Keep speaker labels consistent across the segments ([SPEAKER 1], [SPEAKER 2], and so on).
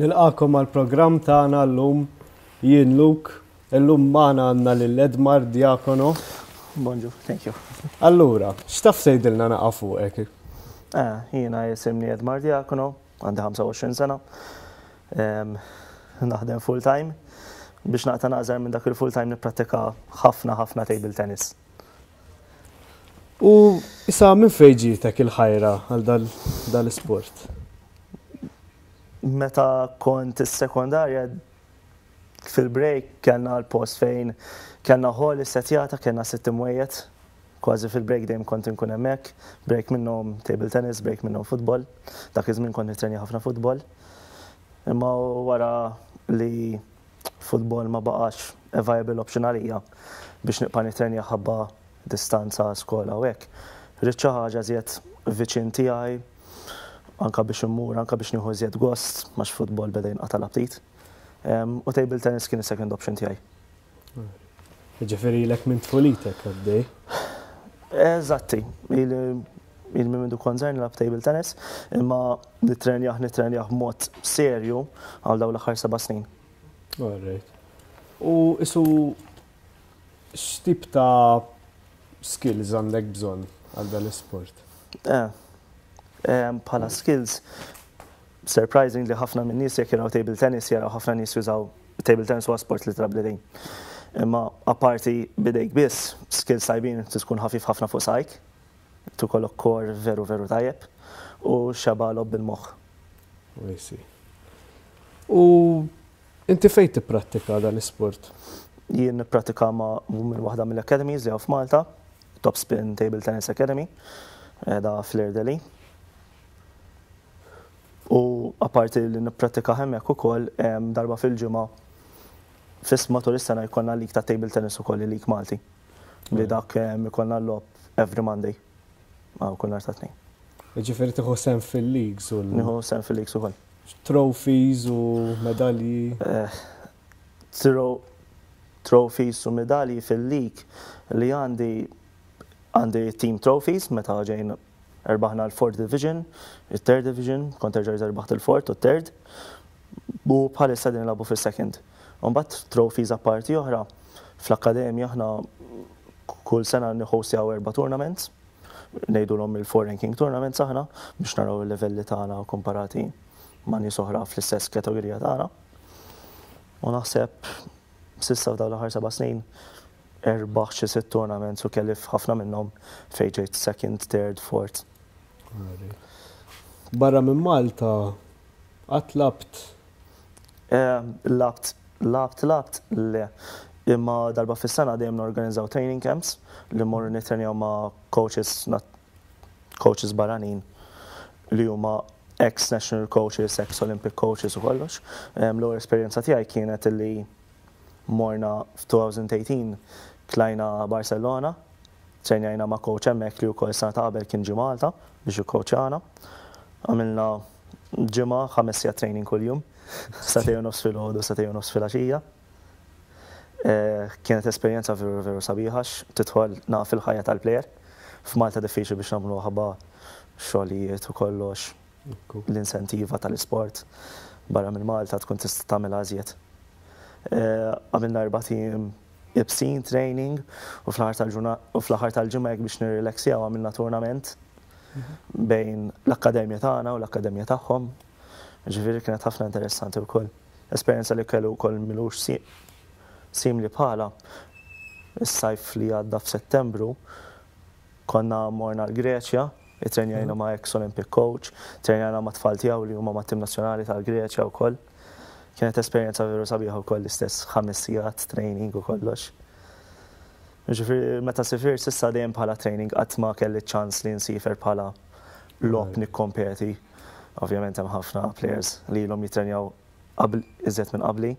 [SPEAKER 1] Nilqakom għal programm tagħna llum jien Luk, illum magħna għandna lil Edmar Diakono. Bonġu, thank you. Allura, x'taf tgħidilna naqa' fuqek? Eh, jiena jisimni Edmar Diakono, Għandi 25 sena. Naħdem full time. Biex naqta naqżar minn dak il-full time nipprattika ħafna ħafna table tennis. U issa minn fejġitek il-ħajra għal dal-sport? Meta kont is-sekondarja Fil-break kellna l-post fejn kellna hall issettjata, kellna sitt imwejjed, kważi fil-break dejjem kont inkun hemmhekk, break minnhom table tennis, break minnhom futbol, dak iż-żmien kont nittrenja ħafna futbol. Imma wara li futbol ma baqax a viable option għalija biex nibqa' nittrenja ħabba distanza skola u hekk, ridt xi ħaġa iżjed viċin tiegħi anke biex immur, anke biex nieħu iżjed gost għax futbol beda jinqata' l-aptit. U table tennis kien is-second option tiegħi. Ġifieri lek minn tfulitek għaddej. Eżatti, il minn mindu konzern lab table tennis, imma nitrenjaħ nitrenjaħ mod serju għal daw l-aħħar seba' snin. Alright. U isu x'tip ta' skills għandek bżonn għal dan l-isport? Eh, bħala skills, Surprising li ħafna minn nies jekk jaraw table tennis jaraw ħafna nies jużaw table tennis huwa sport li trab l-idejn. Imma apparti bidejk biss, skills tajbin trid tkun ħafif ħafna fuq saqajk, trid ikollok core veru veru tajjeb u xebgħa logħob bil-moħħ. I see. U inti fejn tipprattika dan l-isport? Jien nipprattika ma' minn waħda mill-academies li hawn f'Malta, Top Spin Table Tennis Academy, qiegħda fl-Irdeli. U apparti li nipprattikah hemmhekk ukoll darba fil-ġimgħa fis matul is-sena jkollna lig ta' table tennis ukoll il-lig Malti. Li dak ikollna l-logħob every Monday għal kull nhar ta' Tnejn. Jiġifieri tieħu sehem fil-leagues u l-. Nieħu sehem fil-leagues ukoll. Trophies u medalji? Trophies u medalji fil-league li għandi għandi team trophies meta ġejna. Erbaħna l-Fourth Division, it-Third Division, kont terġa' riża rbaħt il-Fourth u t-Third, u bħalissa qegħdin nilagħbu fis-Second. Imbagħad trophies apparti oħra, fl-akkademja aħna kull sena nihostjaw erba' tournaments, ngħidulhom il-Four Ranking Tournaments aħna biex naraw il-livelli tagħna komparati ma' nies oħra fl-istess kategorija tagħna. U naħseb S'issa f'dawn l-aħħar seba' snin erbaħt xi sitt tournaments u kelli f'ħafna minnhom fejn ġejt second, third, fourth. Barra minn Malta qatt lagħbt? Lagħbt, lagħbt, lagħbt le. Imma darba fis-sena dejjem norganizzaw training camps li mmorru nittrenjaw ma' coaches coaches barranin li huma ex national coaches, ex Olympic coaches u kollox. L-ewwel esperjenza tiegħi kienet li morna f'2018 tlajna Barcelona, trejnjajna ma' coach hemmhekk li wkoll sena ta' qabel kien ġie Malta biex jikkoċjana. Għamilna ġimgħa ħames sigħat training kuljum, sagħtejn u nofs filgħodu, sagħtejn u nofs filgħaxija. Kienet esperjenza veru veru sabiħa x' tidħol naqaf fil-ħajja tal-plejer. F'Malta diffiċli biex nagħmlu aħba, xogħlijiet u kollox, l-insentiva tal-isport barra minn Malta tkun tista' tagħmilha ażjed. Għamilna erba' tim ibsin, training, u fl-aħħar tal-ġimgħa hekk biex nirrileksjaw għamilna turnament bejn l-akkademja tagħna u l-akkademja tagħhom. Ġifieri kienet ħafna interessanti wkoll. Esperjenza li kellu wkoll m'ilux simli bħalha, is-sajf li għadda f'Settembru, konna morna l-Greċja, ittrenjajna ma' ex Olympic coach, trejnajna ma' tfal tiegħu li huma mat-tim nazzjonali tal-Greċja wkoll. Kienet esperjenza veru sabiħa wkoll l-istess ħames sigħat training u kollox. Ġifieri meta sifir s'issa dejjem bħala training qatt ma kelli ċ-ċans li nsifer bħala logħob nikkompeti. Ovvjament hemm ħafna players li ilhom jittrenjaw iżjed minn qabli,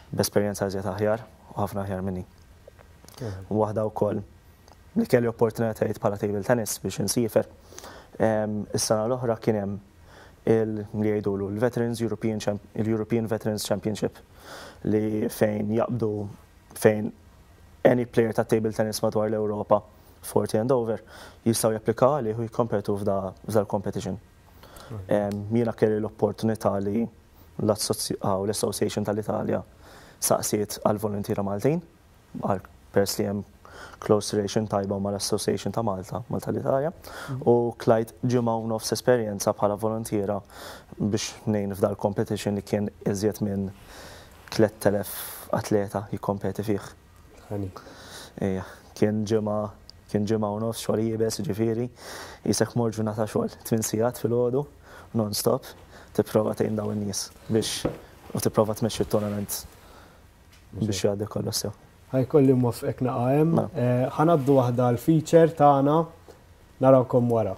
[SPEAKER 1] b'esperjenza iżjed aħjar u ħafna aħjar minni. Waħda wkoll li kelli opportunitajiet bħala table tennis biex insifer. Is-sena l-oħra kien hemm li jgħidulu l-Veterans European, il-European Veterans Championship li fejn jaqbdu fejn any player ta' table tennis madwar l-Ewropa Forti and Dover jistgħu japplikaw għalih u jikkompetu f'da l-competition. Jiena kelli l-opportunità li l-Association tal-Italja saqsiet għal voluntiera Maltin, għal pers li hemm close relation tajba ma' l-Association ta' Malta, Malta l-Italja, u klajt ġimgħa u nofs esperjenza bħala voluntiera biex ngħin f'da l-competition li kien iżjed minn 3,000 atleta jikkompeti fih. Ejja, kien ġimgħa, kien ġimgħa u nofs xogħol iebes, jiġifieri, qisek mort ġurnata xogħol, tmien sigħat filgħodu, non stop, tipprova tgħin dawn in-nies biex, u tipprova tmexxi t-tournament biex jgħaddi kollox sew. Ħa jkolli nwaffqek naqa' hemm. Ħa ngħaddu waħda għall-feature tagħna, narawkom wara.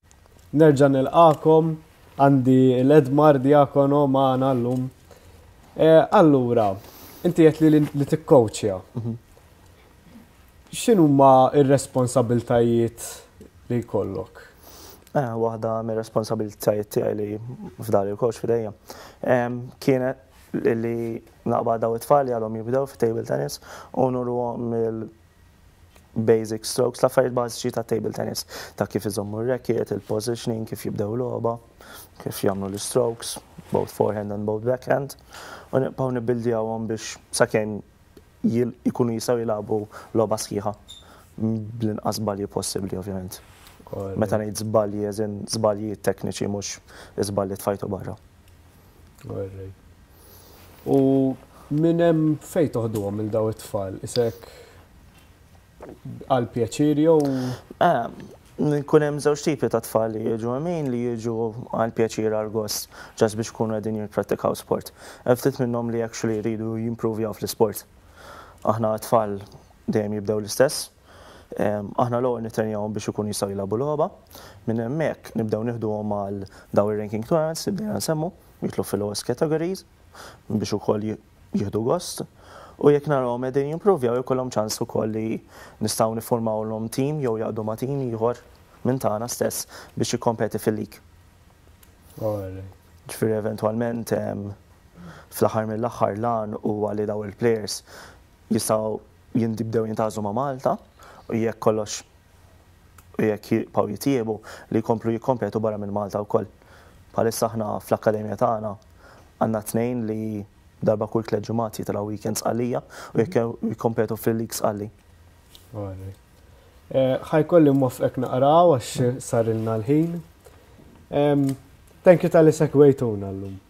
[SPEAKER 1] Nerġa' nilqagħkom, għandi l-Edmar Diakono magħna llum. Eh, allura, inti qed li li tikkowċja. Mhm. X'inhuma r-responsabiltajiet li jkollok? Eh, waħda mir responsabilitajiet tiegħi li f'dar il-koċ f'idejja. Kienet li naqba daw it-tfal li għalhom jibdew fit-table tennis u nurhom il- basic strokes, l-affarijiet bażiċi ta' table tennis, ta' kif iżommu r-racket, il-positioning, kif jibdew logħba, kif jagħmlu l-strokes, both forehand and both backhand, u nibqgħu nibbuildjawhom biex sakemm jkunu jistgħu jilagħbu logħba sħiħa bl-inqas żbalji possibbli ovvjament. Meta ngħid żbalji as in żbalji tekniċi mhux żbalji tfajtu barra. U minn hemm fejn toħduhom il daw it-tfal? Isek għal pjaċir jew? Kun hemm żewġ tipi ta' tfal li jiġu hemm li jiġu għal pjaċir għal gost ġas biex ikunu qegħdin jipprattikaw sport. Hemm ftit minnhom li actually jridu jimprovjaw fl-isport. Aħna t-tfal dejjem jibdew l-istess. Aħna l-ewwel nittrenjawhom biex ikunu jistgħu jilagħbu logħba. Minn hemmhekk nibdew nieħduhom għal dawn ir-ranking trials li bdejna nsemmu, jidħlu fil-lowest categories biex ukoll jieħdu gost. U jekk narahom qegħdin jimpruvjaw ikollhom ċans ukoll li nistgħu niffurmawlhom tim jew jaqdu ma' tim ieħor minn tagħna stess biex jikkompeti fil-league. Ġifieri eventwalment fl-aħħar mill-aħħar l-għan huwa li dawn il-players Jistgħu jintbdew jintgħażlu ma' Malta u jekk kollox u jekk jibqgħu jitjiebu, li jkomplu jikkompetu barra minn Malta wkoll. Bħalissa aħna fl-akkademja tagħna għandna tnejn li darba kull tliet ġimgħat jitilgħu weekends Sqallija u jekk jikkompetu fil-League Sqalli. Ħa jkolli nwaffqek naqra hawn għax sarilna l-ħin. Thank you talli segwejtuna llum.